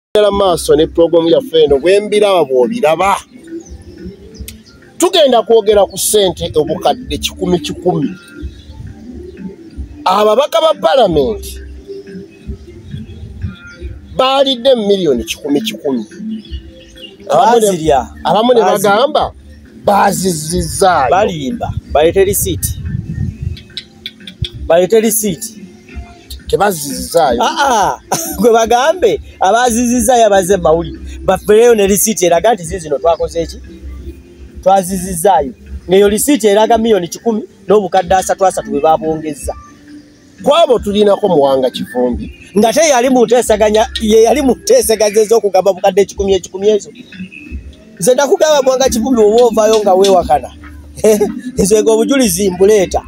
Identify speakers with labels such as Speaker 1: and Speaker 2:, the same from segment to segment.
Speaker 1: Tugenda maaso ne pulogulaamu yaffe eno bwembiraba bw'obiraba tugenda kwogera ku ssente obukadde kikumi kikumi ababaka ba palamenti baalidde mu miliyoni kikumi kikumi abamu ne bagamba bazizizaayobaliimba
Speaker 2: balete risiiti balete lisiiti
Speaker 1: tebazizizaayo aa ah, ah.
Speaker 2: gwe bagambe abazizizaayo abazze mawulire bafereyo ne lisiiti eraga nti zizino twakoze eki twazizizaayo ngeyo lisiiti eraga miyoni kikumi n'obukadde asatu asatu bwe babwongezza kwabo
Speaker 1: tulinako muwanga kivumbi nga te yali
Speaker 2: muntesaganya yeyali munteseganya ezokugamba bukadde ekikumi ekikumi ezo nze nakugamba mwanga kivumi oba ovayo nga wewakana eh, nze nga obujulizi mbuleeta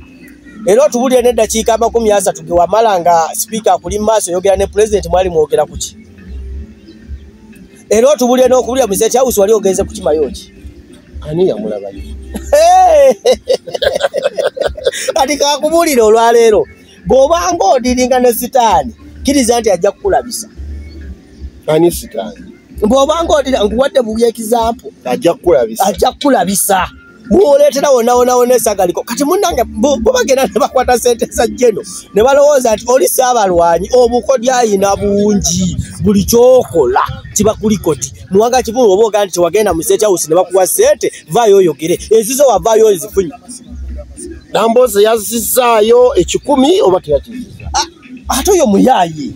Speaker 2: era otubulire neddakiika amakumi asatu gewamala nga sipiika akuli mumaaso oyogera ne pulezidenti mwali mwogera kuki era otubulire nokubulira muzeti house wali ogenze kukimayoki ani yamulabayo kati kakubulire olwaleero bw'obanga odiringa ne sitaani kkiriza nti ajja kukulabisa
Speaker 1: ani sitaani bw'obanga odira
Speaker 2: nkuwadde bubi ekizampu ajja kukulabisa
Speaker 1: ajja kukulabisa
Speaker 2: bwoleetera wonawonawona esagaliko kati munange bubagenda ne bakwata sente za jeno ne balowooza nti oli saabalwanyi obukodyayina bungi buli kyokola kibakuliko ti muwanga kivulu oba ogaa nti tewagenda mu state house ne bakuwa sente vaayo oyogere ezizo wavaayo ozifunye
Speaker 1: namboozi yazizzaayo ekikumi oba teyakizizza ah, ate oyo
Speaker 2: muyaaye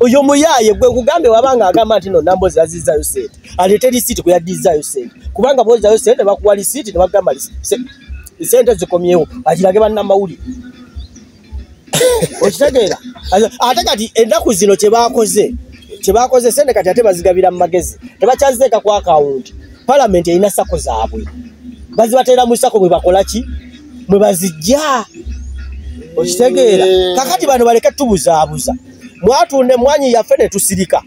Speaker 2: oyo muyaaye gwe kugambe wabanga agamba nti no namboozi yazizzaayo sente aleete lisiiti kwe yaddizzaayo sente kubanga bwozayo sente bakuwa lisiiti ne bagamba sente zikomyewo akirage bannamawulire okitegeera ate kati ennaku zino kyebakoze kyebakoze sente kati ate bazigabira mu magezi tebakyazizeeka ku akawunti palamenti erina sako zaabwe bazibateera mu sako mwe bakola ki mwe bazijja okitegeera eh. kakati bano baleke tubuzaabuza mwatunda emmwanyi yaffe ne tusirika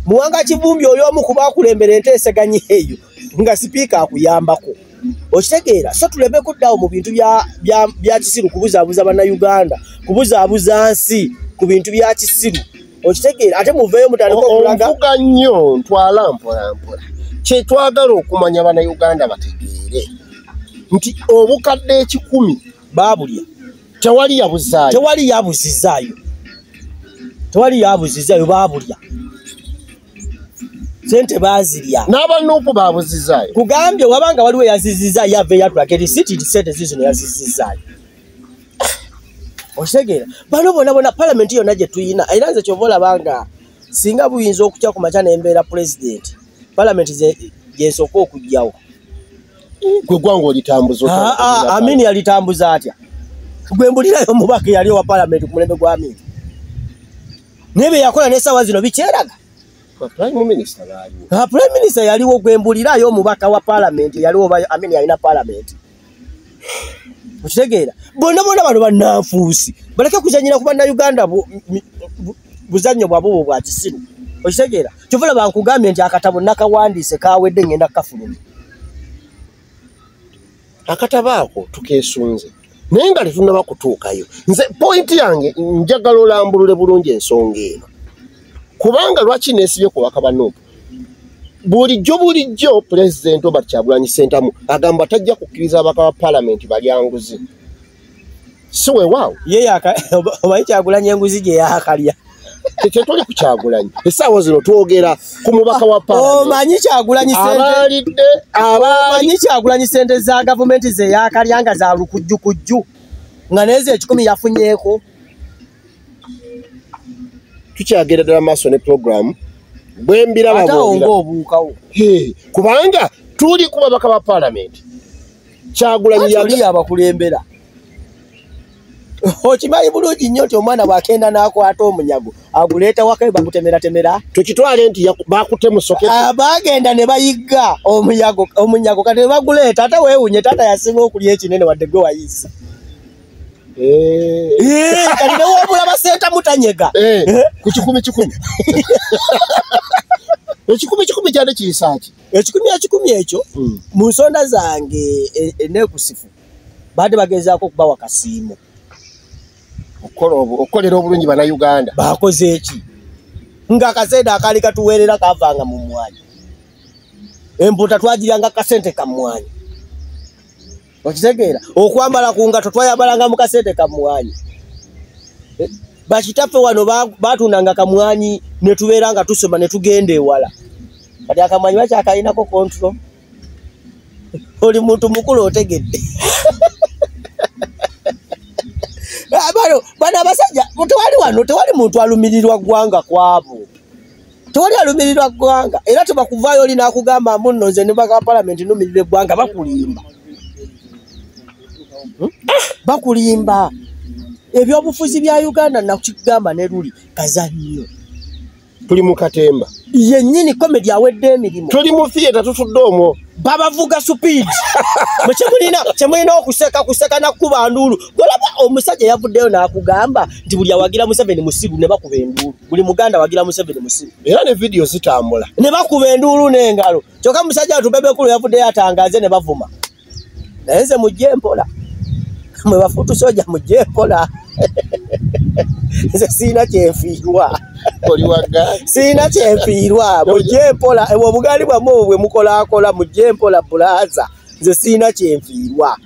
Speaker 2: muwanga kivumbi oli omu kuba akulembera enteeseganya eyo nga sipiika akuyambako okitegeera so tuleme kuddawo mu bintu bya kisiru kubuzaabuza bannayuganda kubuzaabuza nsi ku bintu bya kisiru okitegeera ate muveeyo mutandika okulaga onvuga nnyo
Speaker 1: ntwala mpolampola kyetwagala okumanya bannayuganda bategeere nti obukadde ekikumi baabulya
Speaker 2: tewali
Speaker 1: yabuzaayo tewali yabuzizaayo tewali yabuzizaayo baabulya sente bazirya n'abanuupu babuzizaayo kugambye wabanga
Speaker 2: waliwo yazizizaayo yava eyatulaka eri sitiri sente zizino yazizizaayo okitegera bano bona bona palamenti yonna gye tuyina era nze kyova olabanga singa buyinza okutya ku makya nembeera pulezidenti palamenti gyesooka okugyawo
Speaker 1: gwe gwanga olitambuza ah, ah, amini
Speaker 2: yalitambuza atya gwe mbulirayo omubaka eyali owa palamenti ku mulembe gwa amini naye byeyakola nesawa zino bikyeraga
Speaker 1: prime minister
Speaker 2: yaliwo gwembulirayo omubaka wa palamenti yaliwo amin yalina palamenti okitegeera bonna bona bano bananfuusi baleke kuzanyira ku bannauganda buzannyo bwabwe bwo bwa kisiru okitegeera kyova laba nkugambye nti akatabo nakawandiise kawedde ngenda kukafuluma
Speaker 1: akataba ako tukesunze naye nga tetunaba kutuukayo nze pointi yange njagala olambulule bulungi ensonga eno kubanga lwaki nesibye ku bakabanuupu bulijjo bulijjo pulezidenti obert kyagulanyi sentamu agamba tajja kukkiriza abaka ba palamenti balyanguzi si wewaawo ye omanyi
Speaker 2: kyagulanya enguzi gye yakalya tetwali ku
Speaker 1: kyagulanyi esaawa zino twogera ku mubaka wa paomanyi
Speaker 2: kyagulanyiabaalidde abamanyi kyagulanyi sente za gavumenti zeyakalya nga za lukujjukujju nga neezo ekikumi yafunyeko
Speaker 1: tukyagenda ddala maaso ne pulogulaamu bwembirabaobuukawo
Speaker 2: kubanga
Speaker 1: tuli ku babaka ba paalamenti kyagulanyi yali abakulembera
Speaker 2: okimanyi bulungi nnyo nti omwana bwakenda n'akwata omunyago aguleeta wakae bagutemeratemera tukitwale nti
Speaker 1: bakutemusokebagenda ah, ne
Speaker 2: bayigga omunyago kati ne baguleeta ate weewunye taata yasinga okulya ekinene wadde gwe wayisa Eh. Eh, kati newabula basenta mutanyega eh, ku kikumi
Speaker 1: kikumi ekikumi kikumi kyade kiyisaki ekikumi ekikumi ekyo
Speaker 2: hmm. mu nsonda zange enekusifu baade bagezaako okubawa kasiimo okukolera
Speaker 1: obulungi banauganda
Speaker 2: bakoze eki nga akasente akaali katuweerera kavanga mu mwanya empuuta twagiryanga kasente kamwanya okitegeera okwambala ku ngato twayambalanga mu kasente kamwanyi eh, bakitaffe wano baatundanga kamwanyi ne tubeera nga tusoma ne tugenda ewala kati akamwanyi bakyakalinako kontro oli muntu mukulu otegedde ah, bano abasajja tewali wano tewali muntu alumirirwa ggwanga kwabo tewali alumirirwa ggwanga era tebakuvaayo oli nakugamba mbu nno nze nebaka palamenti numirira eggwanga bakulimba hmm? ah, bakulimba ebyobufuzi bya uganda nakigamba ne luli kazannyo tuli
Speaker 1: mu katemba yennyini komedi
Speaker 2: awedde emirimu tuli mu theatre tutudde
Speaker 1: omwo babavuga supiidi
Speaker 2: mukyemulina kyemulina okuseka kuseka nakukuba nduulu golaba omusajja yavuddeyo nakugamba nti buli awagira museveni musiru ne bakuba enduulu buli muganda wagira museveni musiru era ne vidiyo zitambula
Speaker 1: ne bakuba enduulu
Speaker 2: n'engalo kyokka musajja watu bebekulu yavuddeyo atangaze ne bavuma naye nze mujje mpola mwe bafutu soja mujje mpola nze siina kyenfiirwa
Speaker 1: siina kyenfiirwa
Speaker 2: mujje mpola ebwo obugaali bwamu obwo bwe mukolakola mujje mpola bulaza nze siina kyenfiirwa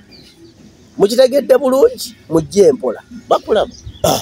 Speaker 2: mukitegedde
Speaker 1: bulungi
Speaker 2: mujje mpola bakulaba ah.